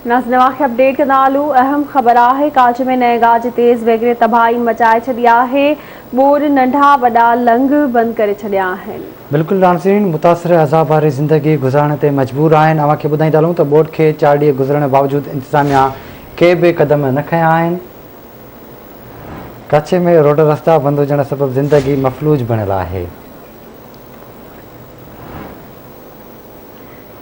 ناز نوا کي update ڪندا ھلو اھم خبر آھي ڪاڇ ۾ نئين گاج تيز ويگڙي تباھي مچائي ڇڏي آھي ٻوڏ ننڍا وڏا لنگھ بند ڪري ڇڏيا آھن. بلڪل ناظرين متاثر عذاب واري زندگي گذارڻ تي مجبور آھن اوھان کي ٻڌائيندا ھلون ته ٻوڏ کي چار ڏينهن گذرڻ باوجود انتظاميا ڪي به قدم نه کنيا آھن ڪاڇ ۾ روڊ رستا بند ھجڻ سبب زندگي مفلوج بڻيل آھي.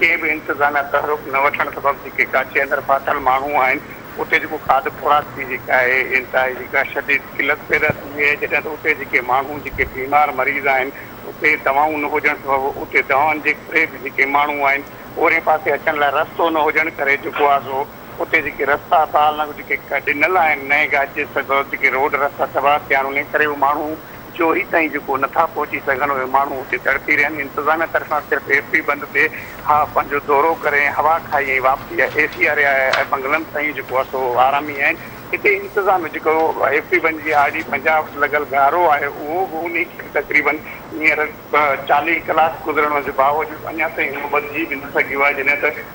ڪنهن به انتظام يا تحرڪ نه وٺڻ سبب جيڪي ڪاڇي اندر ڦاٿل ماڻهو آهن اتي جيڪو کاڌ خوراڪ جي جيڪا آهي انتهائي جيڪا شديد قلت پيدا ٿي وئي آهي جڏهن ته اتي جيڪي ماڻهو جيڪي بيمار مريض آهن اتي دوائون نه هجڻ سبب اتي دوائن جي ڪري به جيڪي ماڻهو آهن اورين پاسي اچڻ لاء رستو نه هجڻ ڪري جيڪو آهي سو اتي جيڪي رستا بحال نه جيڪي ڏنل آهن نئين گاچي سبب جيڪي روڊ رستا تباهه ٿيا آهن انهي ڪري هو ماڻهو جو هي تائين جيڪو نٿا پهچي سگهن اهي ماڻهو اتي تڙپي رهن انتظاميا طرفان صرف ايف بي بند تي ها پنهنجو دورو ڪري ۽ هوا کائي ۽ واپسي آهي اي سي آري آهي ۽ بنگلن تائين جيڪو آهي سو آرامي آهن هتي انتظاميا جيڪو ايف بي بند جي آر ڊي پنجاهه وٽ لڳل گهارو آهي اهو به انهي کي به تقريبن هينئر چاليهه ڪلاڪ گذرڻ جي باوجود اڃا تائين اهو ٻڌجي به نه سگهيو آهي جڏهن ته